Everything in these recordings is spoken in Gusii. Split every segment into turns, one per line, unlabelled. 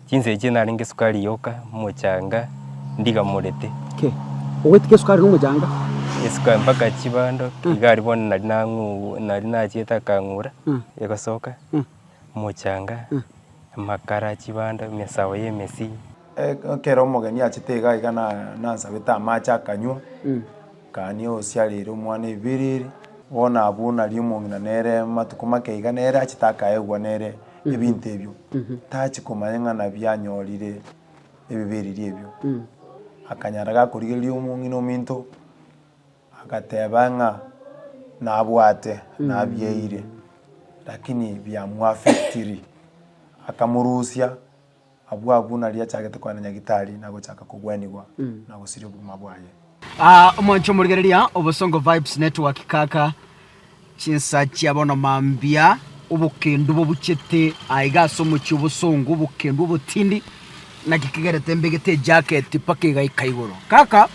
Chinsa echio narenge sukari yoka, mochanga, ndigamorete. Ki?
Ogoetika esukari na omochanga? Esukari mpaka
chibando, iga aria bono nari nang'u- nari nachiete akang'ura, egosoka, mochanga, amakara, chibando, emesao ya emesii. Ekero
omogeni achete iga iga na- nansabete amache akanywa. Gania oosiareire omwana ebibeera ere, bono abwo nari omong'ina nere amatuko make aiga nere achete akaegwa nere ebinto ebio, tachi komanya ng'a nabi anyorire ebibeera eria ebio. Akanyara gakorigereria omong'ina ominto, agateba ng'a nabwate nabieire, lakini biamoaffectirie, akamorusia. Abwo agwo nario achagete koena Nyagitari na gochaka kogwenigwa na gosiria obogima bwaye. Aa omonche
omorigereria obosongo vibes network kaka chinsa chia bono mambia obokendu bobuchete aiga ase omochie obosongo obokendu obotindi naki kigerete mbegete ejacket mpaka egaika igoro kaka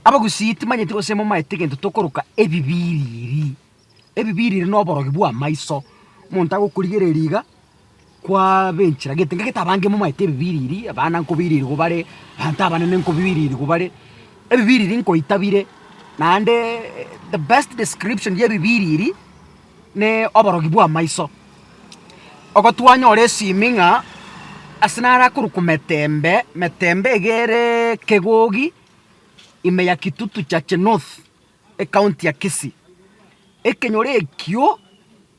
abagusii timanyeti gose momaete egento tokoroka ebibiriri Ebibe ire rire noborogi bw'amaiso, omonto agokorigereria iga, kwabenchera gete iga gete abange momaete ebibe ire erii, abana nkobairerigwa bare, abanto abanene nkobairerigwa bare, ebibe ire erii nkoita bire, naendeeee the best description y'ebibe ire erii, na oborogi bw'amaiso. Ogotwanyora esimi ng'a ase naro akorwa kometembe, metembe iga ereeee kegogi, ime ya kitutu chache north. Ekaunti ya Kisii, ekenyoro ekio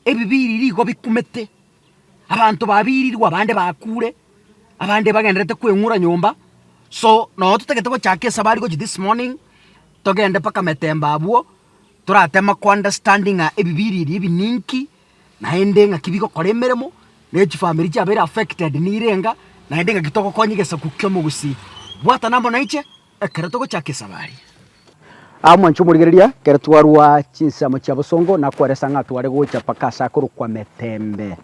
ebibiri nigo bikumete, abanto babirirwe abande bakure, abande bagendererete kweng'ura nyomba, so nabo totagete gochaka esabari gochia this morning, togende mpaka Metemba abwo, torateme kounderstandi ng'a ebibiri ebi ebi ninki, naende ng'aki bigokora emeremo, ne chifamiri chiabeire affected nire enga, naende ng'aki togokonyia egesaku ki'omogusii. Bwatana amo naiche. Ekero togochaka esabari. Aa mwanche omorigereria, ekero twarua chinsemo chia bosongo nakweresa ng'a tware gocha mpaka ase akorokwa Metembe.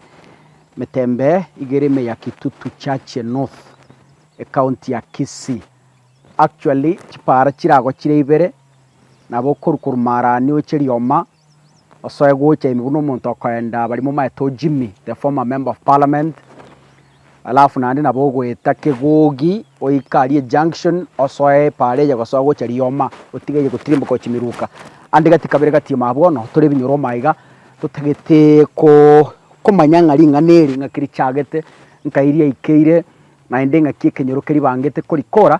Metembe iga ere ime ya Kitutu Chache North, ecounty ya Kisii. Actually, chipaara chire agwo chire ibere, nabo okorwa korwa Marani oche Rioma, Osoe gocha ime buna omonto okorenda abarimo omanyete o Jimmy the former member of parliament alafu naende nabo ogoeta kegogi oike aria junction osoe epaara eye gosoa gocha rioma otige eye gotirimboka gochia miruka ande gati kabere gati ime abwo bono tore ebinyoro ime aiga totagete ko komanya ng'a ring'ana eri ng'aki richagete nkai riaikeire naende ng'aki ekenyoro keribangete korikora.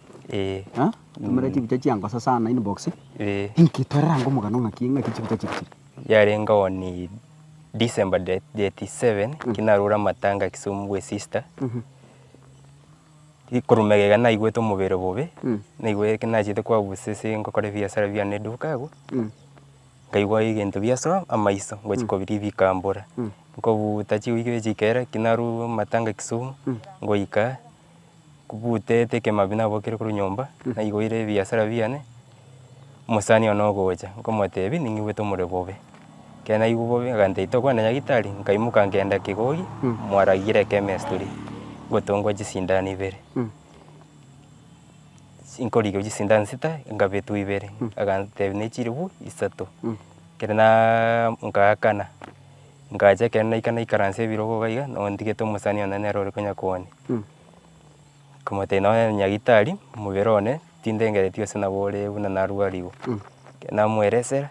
Eh. Ha? Tumera chibicha chiangosa sana inbox. Eh. Inki torera ngo mugano ngaki ngaki chibicha chiri chiri. Yarenge oni
December de- date 7 kinarure amatanga Kisumu bwe sister. Ikorumega iga naigwete omobere bobe, naigwe ki nachete kwa busese ngokora ebiasara biane eduka abwo, nkaigwa egento biasoa amaiso ngochi kobiria bikambora. Nkobuuta chiwiki echi kera ki narure amatanga Kisumu, ngoika. Nkobutete ekemabi nabokire korwa nyomba, naigoire ebiasara biane, omosani one ogocha, nkomotebia ning'igwete omorero bobe. Ekero naigwa bobe agantebia tokogenda nyagitari, nkaimoka ngenda kegogi, mwaragire ekemess toria, ngotongwa chisindano ibere, nkorigwa chisindano sita, nkabetwa ibere, agantebia nechiribu isato, ekero naaaa nkaakana. Ngacha ekero naika naikaransa ebirogo iga iga, nabo ntigete omosani one nere ore konya koania. Nkamotebia nonye na nyagitari, omobere one tindengereti gose nabo ore buna narwarigwe. Ekero namoeresera,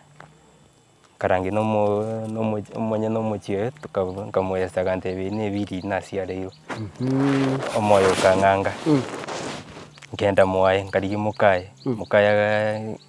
nkarangeria nomo- nomo omonye na omochie oye tokabu nkamoyesera akantebia ebi nebi riria nasiareirwe. Omoyo okang'anga, nkenda mwaye, nkarigia mokaye, mokaye agaa.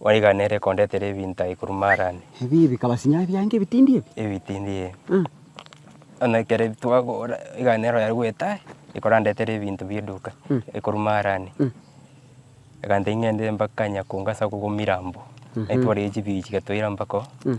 Mwaiganere kondetera ebinto aye korwa Marani. Ebi bikaba sinyaga
biange ebitindi ebi. Ebitindi ebi.
Mm. Onye ekero twagora eganero yari goeta aye, ekorandetera ebinto bieduka Mm. ekorwa Marani. Mm. Egantebia ng'ende mpaka Nyakunga ase okogwa Mirambo. Naitware echibiichi gatoira mpaka oo. Mm.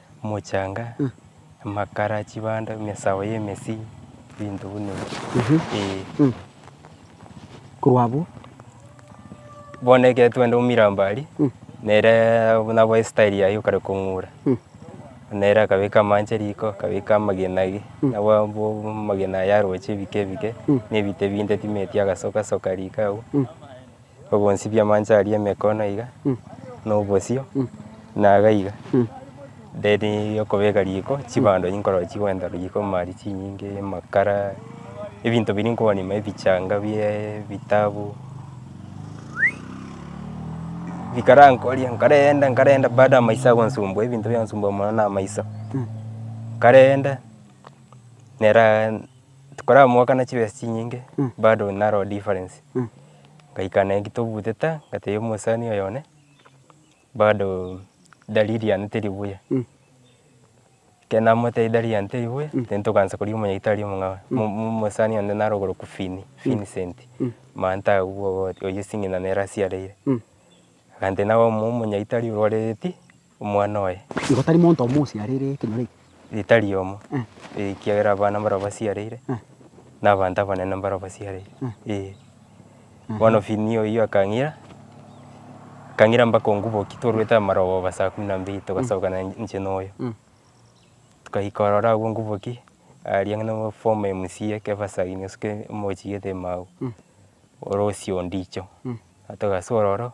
Mochanga, amakara, chibando, emesao y'emesii, ebinto buna ebio, eeh. Mh.
Korwa abwo.
Bono ekero twende omirambo aria, Mh. neree buna boa estyle yaye okare kong'ura, Mh. nere akabeka amache riko, akabeka amagena aria, Mh. nabo abwo amagena aya aroche ebike ebike, Mh. na ebite binde timeti agasoka soka riko agwo. Obonsibie amanche aria emekono iga, na obosio, na iga iga. Then okobeka riko, chibando enyia nkorora chigwenta riko, mari chinyinge, amakara, ebinto biria nkobonima ebichanga bie ebitabu, bikarankoria, nkarenda nkarenda bado amaiso agonsumbua, ebinto biansumbua mono na amaiso. Nkarenda, nera. Tokoramokana chibesa chinyinge bado naroo difference. Ngaikana engki tobutete ngatebia omosani oyo one bado dalili yane teri buya. Ekero namotebia dalili yane teri buya then togaancha koria omonyagitari omong'ao mo- mo- mosani onde naro oborokwa Fini, Vincent manta agwo obo oyio esing'ina nere asiareire. Agantebia nabe omo- omonyagitari orwareti. omwana oye. Nigo tari monto omo
osiareire ekenyoro eke? Ee, tari omo.
Eh. Ee, ekiagera abana mbaria basiareire, Eh. na abanto abanene mbaria basiareire. Eh. Ee. Bono Fini oyio akang'ira, akang'ira mpaka onguboki twarwete amaroba ba saa kumi na mbili togasoka na inche na oyo. Mm. Togaika ororo agwo onguboki, aria ng'ina o form emsie kebasagini osuke omochie gete imagwe. Mm. Orosie ondicho. Mm. Togasoa ororo.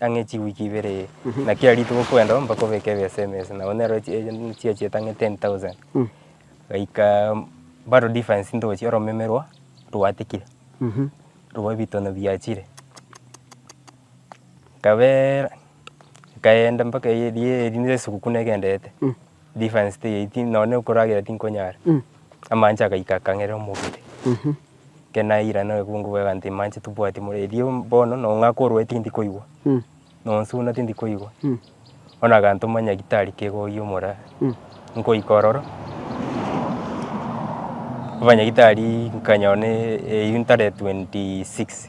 ang'e chiwiki ibere iga, na kera rituko kwenda oo mpaka obeke ebesa emesa, nabo nero echi echi chiachi etang'e ten thousand. Gaika bado difference ntochia oromeme rwa rwatikire, rwa ebitono biachire, nkabeera, nkaenda mpaka eria eria esuguku negenderete. Defense teyaiti nonye okoragera tinkonyara. Amache agaika akang'era omobere. Ekero naira na obokungu bwaiga nti mache tobwate more erio bono no ng'a korwae tindi koigwa. Nonsuna tindi koigwa. Bono agantoma nyagitari kegoyia omora. Nkoika ororo, abanyagitari nkanyora ne eyio ntare 26.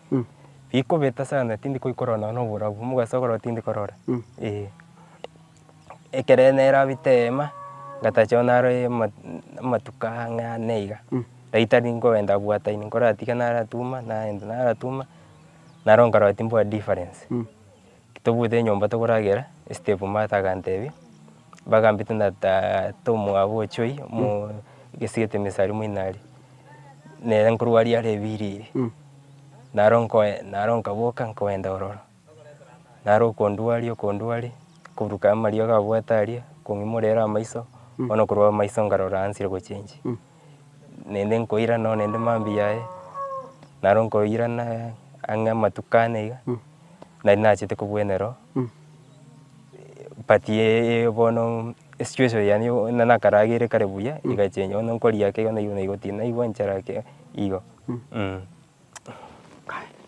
Bikobeta sana tindi koikorora nonya na oborabu, mogaso okorora tindi korora, eh. Ekero nerabete eema, ngatacha nonya nare ama amatuko ang'e ane iga, riria tari nkogenda bwata inwe, nkoratiga naratuma, nagenda naratuma, naro nkarora timbwati difference. Tobwate enyomba tokoragera, Estepu Martha aganteebia, Bagambete na tata omwabo o Joy, omogesegete emesari mo inari, na ere nkorwa aria arebiriire. Naro nkoe naro nkaboka nkogenda ororo. Naro okondua aria okondua aria, koburuka amariogo abwate aria, kong'imora ere amaiso, bono korwa amaiso nkarora ansire gochenjia. Naende nkoira noo naende mambia aye, naro nkoirana ang'e amatuko ane iga, nari nachete kobwenereo, but ye bono esitueshon yane yo buna nakaragere kare buya egachenja, bono nkoria ake iga nairobi naigotinda, naigwa nchara ake igo.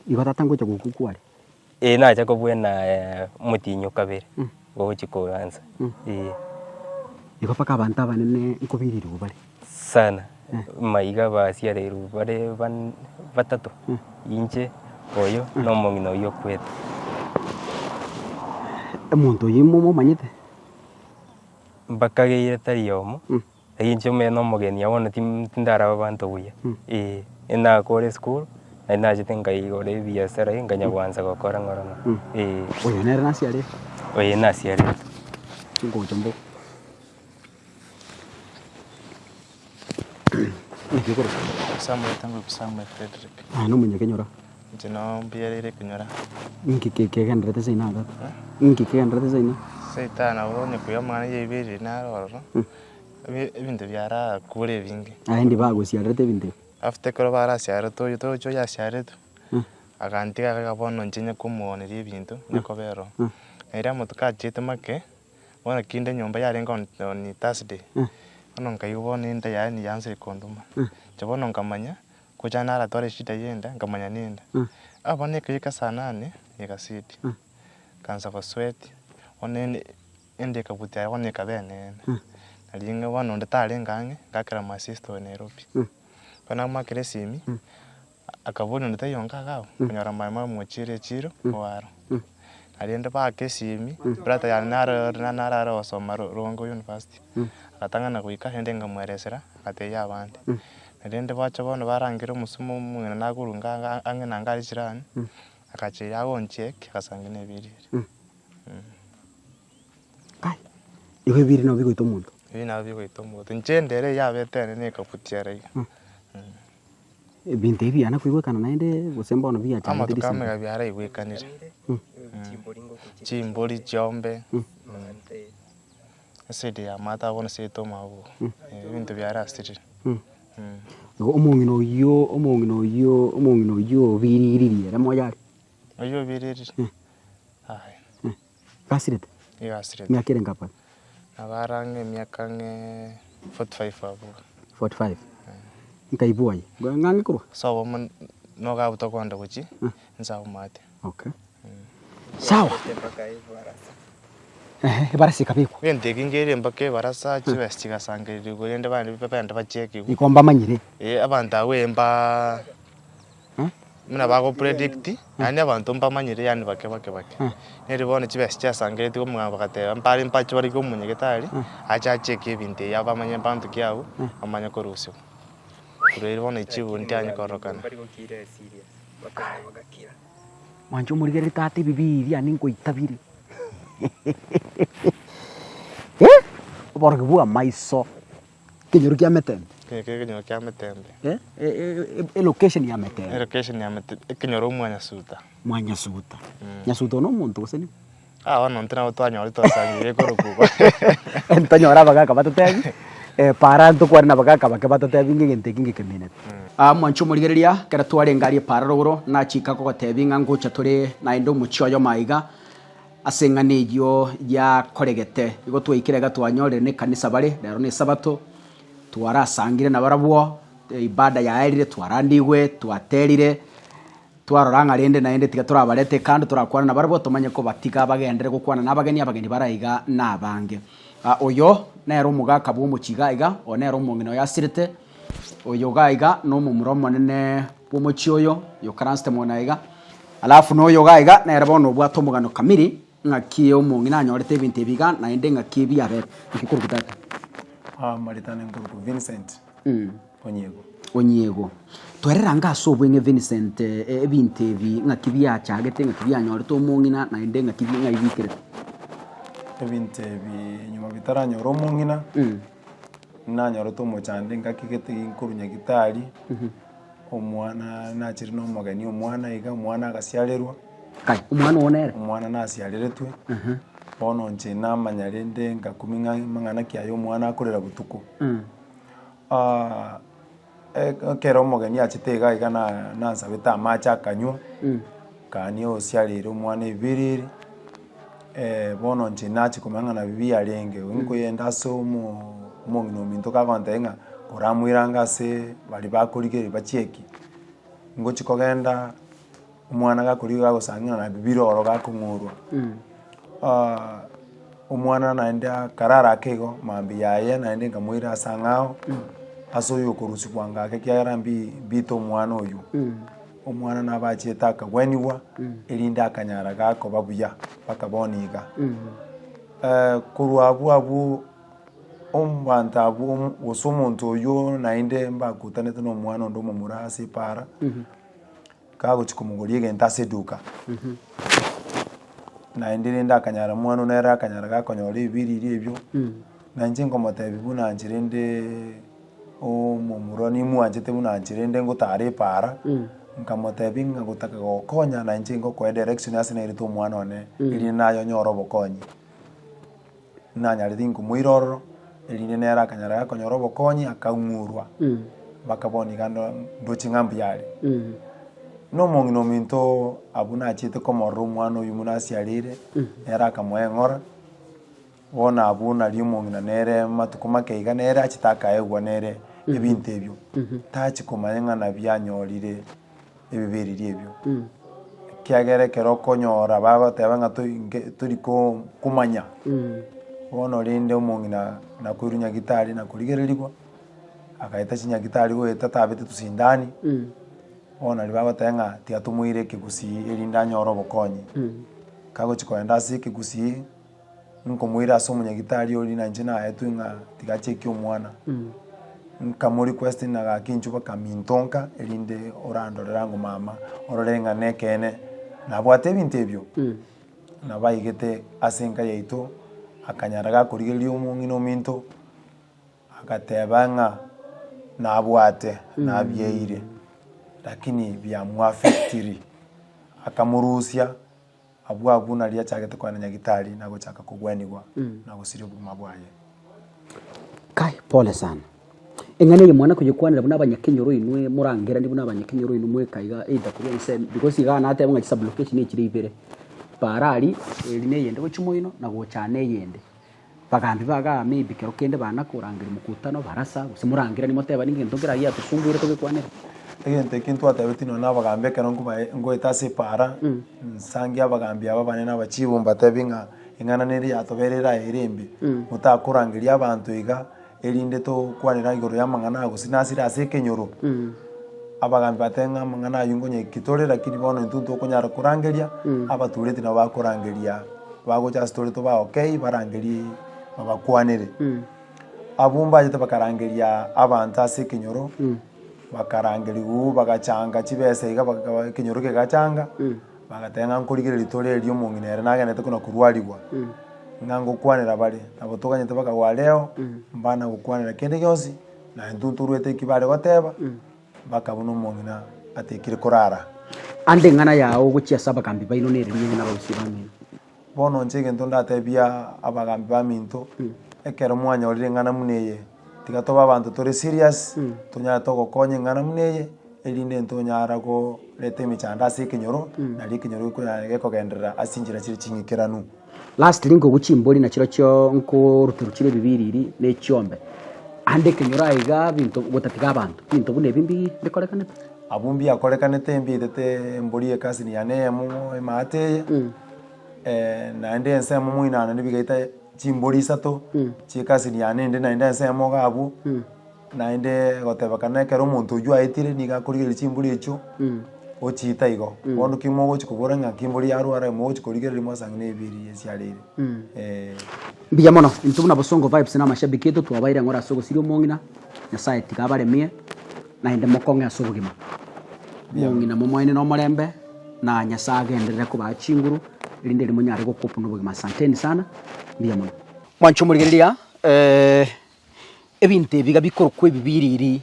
Igo tata ngocha gokwa kware. Ee nacha
kobuena omotienyi o kabere ogochia kogansa ee.
Igo mpaka abanto abanene nkobirirwe bare. Sana,
maiga basiareirwe bare ban- batato, inche, oyo, na omong'ina oyio okwete.
Omonto oyio momomanyete? Mbakageire
tari oyomo. Ai inche omonyene omogeni agwo bono tindarabe abanto buya, ee, nakoore esukuru, na nachete nkaigora ebiasara iga nkanya goansa gokora ng'oro ng'oro, ee. Oyo nere
nasiarete? Oyo nasiarete.
Chingocha
mbobe. Naki okorosia? Samuel Tangwe
Samuel Fredrick. Aye nomonyakenyoro?
Inche nao
mbiareire konyora. Ninki kegenderete
ase ina atata? Ninki kegenderete ase ina? Ase ita nabo onye
koira amang'ana ya ebibe ebibe naro ororo, ebi- ebinto biarakure ebinge. Aye ndi bagosiarerete
ebinto ebi. After ekero
barasiarerete oyio torochi oyasiareretwe, agantiga agaka bono inche nyekomoooneria ebinto, nyekobera oo. Na erio amatuko achiete make, bono kinde enyomba yarenge on- on Thursday, bono nkaigwa bono enda yaani yaanchire konduma. Inche bono nkamanya, Gocha naratware eshida y'enda, nkamanya nenda. Aa bono eke eke saa nane y'egaseti. Nkaansa gosweat, bono ende ende ekabuti aye bono ekaba eneene. Na ring'o bono onde tarenge ang'e, ngakera my sister oyo Nairobi. Ekero namoakera esimi, akaboria onde taiyo onga iga abwo, okonyora my mama omochiire echiiro oo aro. Na rende baaka esimi, brother yane naro ore na naro are gosoma Ro- Rongo University. Agatang'ana goika rende nkamoeresera, agatebia abande. Erinde bache bono barangere omosomba omong'ina nakoruga ang'e na ngari chirani, agacha eria agonchia eke, agasangia na ebiiri biria.
Kai, igo ebiiri nabo bigoita omonto? Ebiiri nabo bigoita omonto.
Inche ndere eyio abete ere ne ekabuti are iga. Ebinto
ebi biana koigwekana naende gose mbono bigachangete Amatuko amo risimba? iga
biaraigwekanire. Chimbori chiombe, Eside ya amato bono siyete omoabu oo, ebinto biare ase rire. Igo omong'ina oyio, omong'ina oyio, omong'ina oyio obiriiririe ere moyo are.
Oyio obiriiririe?
Eh. Aye. Eh, gasirete?
Nigo asirete. Emiaka
ere nkabere?
Nabare ang'e
emiaka ang'e forty five abwo. Forty
five? Nkaibua aye, ng'a ng'e korwa? Ase obomo
nogabuta okonde gochia, inse aumate.
Okay. Sawa. Ehe, ebarasi ekabekwa. Egento eke nkeire mpaka
ebarasa chibesa chigasangererekwa rende bande bende bachiekigwa. Iko mbamanyire.
Eh, abanto abwo eh,
mba Eh? buna bagopredict yaani abanto mbamanyire yaani bake bake bake Eh. neri bono chibesa chiasangererekwa muna bagateba mbare mpache barikwe omonyagetari ache achieke ebinto ebi abamanye abanto ki abwo bamanye korusigwa korwa erio bono echibo ntianye kororokana. Bakamogakia.
Mwancha omorigereria tata ebibe ebi yane nkoita bire. Eh! Oborogi bwa maiso. Ekenyoro kia metembe. Ekenyoro kia ekenyoro kia
metembe. Eh, e
location ya metembe. Elocation ya metembe.
Ekenyoro mwa Nyasuta. Mwa Nyasuta.
Nyasuta one omonto gose nigo? Bono intwe nabo
twanyorire twasangereire korokwa. Ntitanyore
abagaka batotebie, eh, para intwe kware nabagaka bake batotebie ng'a egento eke ngekeminete. Ah, mwanche omorigereria, ekero twarenge aria para rogoro, nachika kogotebie ng'a ngocha tore naende omochie oyomo aiga, ase eng'ana eyio yakoregete. Igo twaikire iga twanyorire nekanisa bare, rero nesabato, twarasangire nabarabwo, ibada yaerire, twarandigwe, twaterire. Twarora ng'a rende naende tiga torabarete kando torakwane nabarabwo, tomanye kobatiga bagenderere gokwana nabageni, abageni bare aiga nabange. Oyo nere omogaka bw'omochie iga aiga, oyo nere omong'ina oyo asirete, oyo iga aiga nomomura omonene bw'omochie oyo, oyokaransete mono aiga. Alafu noyo iga aiga nere bono obwate omogano kamiri. Ng'aki omong'ina anyorete ebinto ebi iga, naende ng'aki ebi abete. Inki korokwo tata?
Aamaretane nkorokwo Vincent Onyiego. Onyiego.
Twerere ango ase obweng'e Vincent, e- ebinto ebi ng'aki biachagete, ng'aki bianyorete omong'ina, naende ng'aki bi- ng'ai bikerete.
Ebinto ebi nyuma bitaranyora omong'ina, nanyorete omochando ngaki gete nkorwa nyagitari, omwana nachire nomogeni omwana iga, omwana agasiarerwa. Aye, omwana
oo nere. Omwana nasiareretwe,
bono inche namanya rende ngakumia ng'a amang'ana ki aya omwana akorera botuko. Ah, e- ekero omogeni achete iga iga na- nansabete amache akanywa, kania osiarire omwana ebiriri, bono inche nachi komanya ng'a nabi biarenge, onye nkoyenda ase omo- omong'ina ominto kagontebia ng'a koramoirange ase baria bakorigereria bachieki, ngochi kogenda. Omwana gakorigia gagosangera na bibiro oro gakong'orwa, omwana naende akarara ake igo mambia yaye naende nkamoira ase ang'e ao, ase oyo okorusigwa anga ake ekiagera mbi- mbite omwana oywo. Omwana nabo achete akagwenigwa erinde akanyara gakoba buya mpaka bono iga. korwa abwo abwo ombanto abwo omo gose omonto oywo naende mbagotanete na omwana onde omomura ase epaara. Kagochia komogoria egento ase eduka, naende rende akanyara mwana one ere akanyara gakonyora ebibiriri ebio, na inche nkomotebia buna inche rende omomura nigo mwanchete buna inche rende ngotara epaara, nkamotebia ng'a gotaka gokonya na inche ngokoe direction ase nairete omwana one, erinde naye onyore obokonyi. nanyarete inkumo ire ororo, erinde nere akanyara gakonyora obokonyi akang'urwa, mpaka bono iga ndo- ndoche ng'a mbuya are. Buna omong'ina ominto abwo nachiete komorora omwana oyio buna asiarire, nere akamoeng'ora, bono abwo nari omong'ina nere amatuko make iga nere achete akaegwa nere ebinto ebio, tachi komanya ng'a nabi anyorire. ebibereria ebio. Ekiagera ekero okonyora bagoteba ng'a to- nke- tori ko- komanya bono orende omong'ina nakoirwe nyagitari nakorigererigwa, agaeta chinyagitari goeta tabete tosindani, bono nario bagoteba ng'a tiga tomoire ekegusii erinde anyore obokonyi. Kagochi kogenda ase ekegusii. Nkomoira ase omonyagitari oria na inche naetwe ng'a tiga acheke omwana, nkamori question agaka enchwa bakamintonka erinde orandorere ango mama orore ng'a na ekeene nabwate ebinto ebio. Nabaigete ase enka yaito, akanyara gakorigereria omong'ina ominto, agateba ng'a nabwate nabieire, lakini biamoaffectirie, akamorusia. Abwo agwo nario achagete koena nyagitari na gochaka kogwenigwa na gosiria obogima bwaye.
Kai, pole sana. Eng'ana eye mwana koyekwanera buna abanyakenyoro inwe morangeranie buna abanyakenyoro inwe mweka iga either koria gose because iga nateba ng'a chisublocation echire ibere. Paara aria eri na eyende gochia moino na gochana eyende. Bagambi ba Kagame imbi kero kende baana korangeria mokutano, barasa, gose morangeranie motebani ngento nkere aye yatosumbuire togekwanera. Egento ekio
ntwatebeti nonya nabagambi ekero nkobae ngoeta ase epaara nsange abagambi aba banene abachibu mbatebie ng'a eng'ananera yatobeire eraye ere embe motakorangeria abanto iga Erinde tokwanera igoro y'amang'ana aya gose nasire ase ekenyoro, abagaambi batebe ng'a amang'ana ayio nkonyekigwa tore, lakini bono intwe ntokonyara korangeria, abatureti nabo bakorangeria, bagocha ase tore toba okay barangerie babakwanere. Abwo mbachete bakarangeria abanto ase ekenyoro, bakarangeriwa oo bagachanga chibesa iga baka ekenyoro kegachanga. Bagateba ng'a nkorigereria ritoro eri omong'ina ere nagenderete kona korwarigwa, ng'a ngokwanera bare, nabo toganyete baka gwa reo, mbana gokwanera kende gionsi, na intwe ntoruete eki bare goteba, baka buna omong'ina atekire korara. Ande eng'ana
yao ogochia ase abagambi baino nere rinyene na abagusia bamino. Bono inche
egento ndatebie abagaambi baminto, ekero mwanyorire eng'ana buna eye, tiga tobe abanto tore serious, tonyare togokonya eng'ana buna eye, erinde intwe tonyare koreta emechando ase ekenyoro, nari ekenyoro gekonya gekogenderera ase chinchera chire ching'ikeranu. Lastly nkoigwa
chimbori na chirochio nkoruterwa chire ebibiriri na echiombe, ande ekenyoro aiga binto gotatiga abanto, binto buna ebi mbi bikorekanete. Abwo mbiakorekanete
mbietete embori y'ekasini yane eyemo emate eye, naende ensemo moinano nibigaita chimbori isato chi'ekasini yane ende naende ensemo iga abwo, naende gotebekana ekero omonto oywo aetire nigo akorigereria chimbori echio ochiita igo. Bono ki mogochia kobora ng'a ki mbori yarwara aye mogochia korigereria mwase ang'e na ebiiri ebi chiareire eh.
Mbuya mono, intwe buna Bosongo Vibes na amashabiki aito twabaeire eng'ora ase ogosiria omong'ina, Nyasae tiga abaremie. Naende mokong'e ase obogima bw'ong'ina momoenene omorembe, na Nyasae agenderere kobaa chinguru, erinde riria monyare gokopwa nobogima. Asanteni sana. Mbuya mono. Mwanche omorigereria, ebinto ebi iga bikorokwa ebi biriri,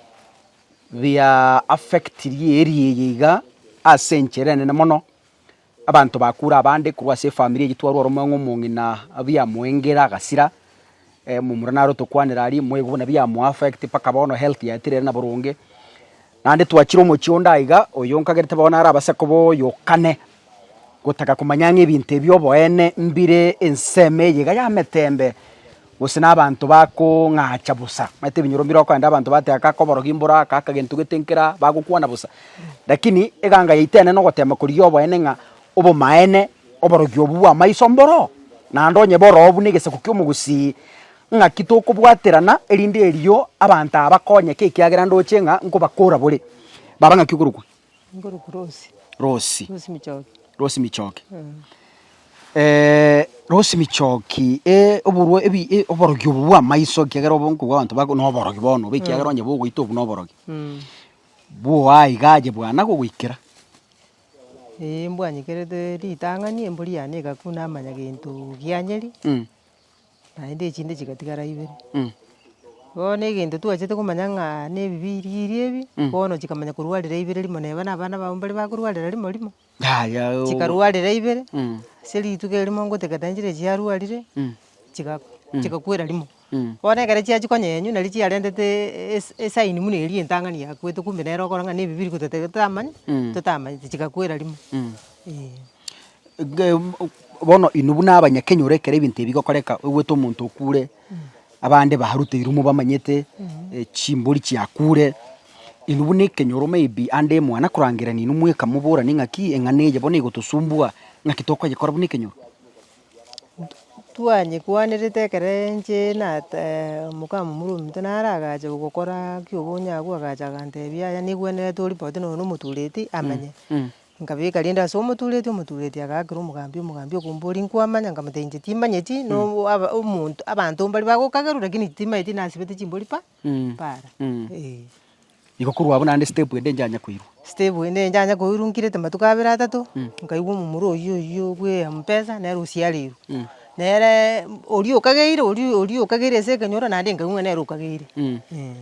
bia affectirie area eye iga ase enchera enene mono, Abanto bakure abande korwa ase efamiri eyio twarwa ore omong'ina omong'ina biamoengera agasira, momura naro tokwanera aria moigwe buna biamo affect mpaka bono health yaye teri ere na boronge. Naende twachire omochie onde aiga oyo nkagerete bono nare abase koba oyokane gotaka komanya ng'a ebinto ebi oboene mbire ensemo eye iga y'ametembe. gose nabanto bakong'acha bosa, omanyete ebinyoro mbire okorende abanto bateba aka koborogia mboro aka, aka gento gete nkera, bagokwana bosa. Lakini eganga yaito enene ogotema korigia oboene ng'a obomaene oborogi obwo bw'amaiso mboro, naende onye boroo buna egesaku ki'omogusii, ng'aki tokobwaterana erinde erio abanto aba bakonyeke ekiagera ndoche ng'a nkobakoora bore, baba ng'aki okorokwa. Nkorokwa Rosi. Rosi. Rosi Michoki. Rosi Michoki. Mm. Eh, Rosi Michoki, eh, oborwa ebi eh, oborogi obo bwa maiso kiagera obo nkogwa abanto bako no oborogi bono, obe kiagera onye bogoita obu no oborogi. Mm. Bwoa igaje bwana gogoikera. Eh, mbwanyekerete
ritang'ani embori yane egakuna amanya gento gianyeri. Mm. naende echinde chigatigara ibere, bono egento twachete komanya ng'a ne ebibiiri biria ebi, bono chikamanya korwarera ibere rimo neba na abana babo mbari bakorwarera rimo rimo, chikarwarera ibere, ase rituko erimo ngoteka naende chire chiarwarire, chiga chigakwera rimo, bono ekero chiachia konyenywa nari chiarentete esi- esaini buna eria entang'ani yakwete kumbe nere okore ng'a ne ebibiiri gototebe totamanya, totamanyeti chigakwera rimo, eeh.
bono inwe buna abanyakenyoro ekero ebinto ebi bigokoreka oigwete omonto okure, abande baruteirwe mobamanyete, chimbori chiakure, inwe buna ekenyoro maybe ande mwane akorangerania inwe mweka moborane ng'aki eng'ana eye bono egotosumbua, ng'aki tokoyekora buna ekenyoro?
Twanyekwanerete ekero inche na omokamamura ominto nare agacha gokoraa ekio obonya agwo agacha agantebia yaya nekwenerete oripoti nonya na omotureti amanye. Nkabeka rende ase omotureti, omotureti agaakera omogambi, omogambi okombori nkwamanya, nkamotebia inche timanyeti, no aba omonto abanto mbari bagokagerwa rakini timanyeti nasibete chimbori pa para eh.
Igo korwa abwo naende step ende inchanya koirwa. Step ende inchanya koirwa nkirete matuko
abere atato, nkaigwa omomura oyio oyio bwa eampesa nere osiareirwe, nere oria okageire oria oria okageire ase ekenyoro naende nkaigwa ng'a nere okageire eh.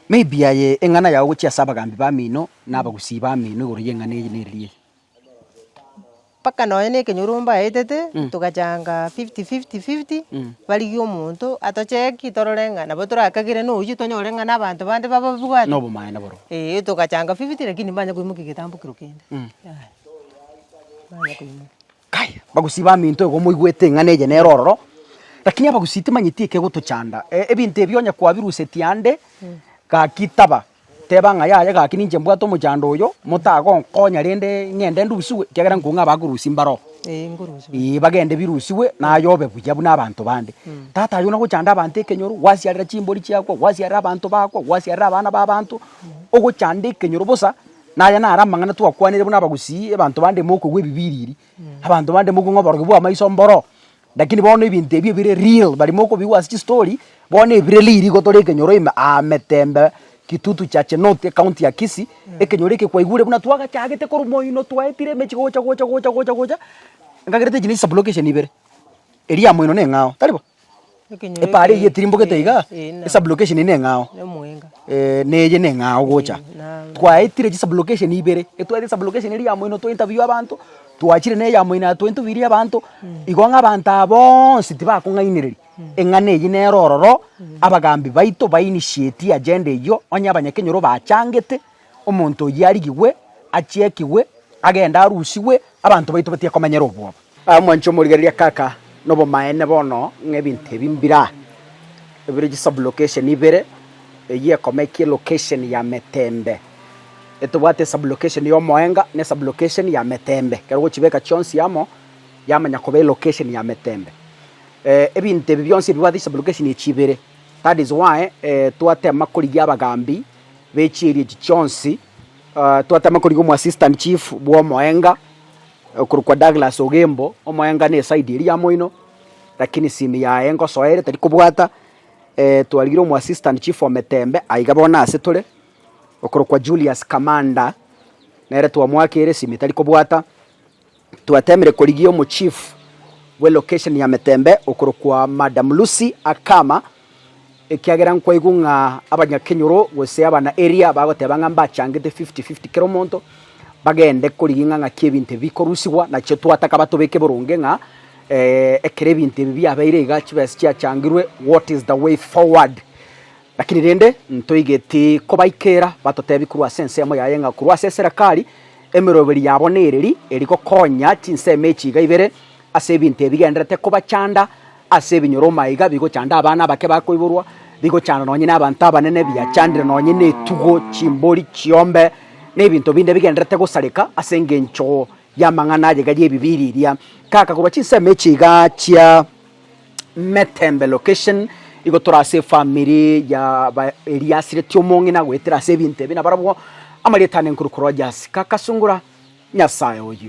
Maybe aye eng'ana yao gochia ase abagambi bamino, Nabagusii bamino igoro y'eng'ana eye neriiri eye.
Mpaka nonya na ekenyoro mbaetete, togachanga fifty fifty fifty, barigie omonto atocheki torore ng'a nabo torakagere na oyio tonyore ng'a na abanto bande bababwate. Nobomaene borobwo.
Eeh togachanga fifty
lakini mbanya koimokia egetambo kiro kende, yaya, mbanya koimokia. Kai, abagusii
baminto igo moigwete ing'ana eye nere ororo, lakini abagusii timanyeti ekegotochanda. E, ebinto ebi onye kwabirusetie ande, gaki taba, teba ng'a yaya gaki ninche mbwate omochando oyo, motagonkonya rende ng'ende ndusigwe, ekiagera nkong'e abakorusia mbaroo. Ee, nkorusiwe. Ee, bagende birusiwe naye obe buya buna abanto bande. Tata aye nagochanda abanto ekenyoro, gwasiarera chimbori chiakwa, gwasiarera abanto bakwa, gwasiarera abana b'abanto, ogochanda ekenyoro bosa. Na aya naro amang'ana twakwanire buna abagusii, ebanto bande mokogwa ebibiriri, abanto bande mokong'a oborogi bwa amaiso mboro, lakini bono ebinto ebio bire real, bari mokobigwa ase chistory, bono ebire real igo tore ekenyoro ime aa Metembe, Kitutu Chache North, ekaunti ya Kisii, ekenyoro eke kwaigure buna twagachagete korwa moino twaetire emechie gocha gocha gocha gocha gocha, enkagerete echi ne chisublocation ibere, eria ya moino neng'ao, tari bo? Epaara eyio etirimbogete iga, esublocation eye neng'ao, eeh na eye neng'ao gocha. Twaetire chisublocation ibere, etwaete esublocation eria ya moino to interview abanto, twachire na eya moino ya to interviewire abanto, igo ng'a abanto aba boonsi tibakong'ainereria eng'ana eyio nere ororo abagambi baito ba initiatie agenda eyio, onye abanyakenyoro bachangete, omonto oyio arigigwe, achiekigwe, agende arusigwe, abanto baito batiga komanyera obwoba. Aye omwanche omorigereria kaka nobomaene bono ng'a ebinto ebi mbira ebire chisublocation ibere, eyio ekomekia elocation ya metembe. Etobwate esublocation y'omoenga na esublocation ya metembe. Ekero ogochibeka chionsi amo, yamanya koba elocation ya metembe. Ebinto ebi bionsi ebibwate chisublocation echi ibere, that is why twatema korigia abagambi b'echieri echi chionsi, twatema korigia omwassistant chief bw'omoenga, Okorokwa Douglas Ogembo, omoengano eside eria ya moino, rakini simu yaye ngosoa ere tari kobwata, twarigire omo assistant chief ometembe aiga bono ase tore, okorokwa Julius Kamanda, nere twamoakeire simu etari kobwata, twatemire korigia omo chief bwe location ya Metembe okorokwa Madam Lucy Akama, ekiagera nkwaigwa ng'a abanyakenyoro gose abana area bagoteba ng'a mbachangete fifty fifty kera omonto, bagende korigia ng'a ng'aki ebinto ebi bikorusigwa, nachio twataka batobeke boronge ng'a ekero ebinto ebi biabeire iga chibesa chiachangirwe what is the way forward. Lakini rende ntoigeti kobaikera batotebie korwa ase ensemo yaye ng'a korwa ase eserekari, emeroberi yabo nereri eri gokonya chinsemo echi iga ibere ase ebinto ebi bigendererete kobachanda Ase ebinyoroma iga bigochanda abana abake bakoiborwa, bigochanda nonye nabanto abanene, biachandire nonye netugo, chimbori, chiombe, na ebinto binde bigendererete gosareka ase engencho y'amang'ana ayega y'ebibiiri eria. Kaka korwa chinsemo echi iga chia Metembe location, igo tore ase efamiri ya ba eria asireti omong'ina goetera ase ebinto ebi, nabarabwo amarieta ane nkorwa korwa Rogers. Kaka sungura Nyasaye oyio.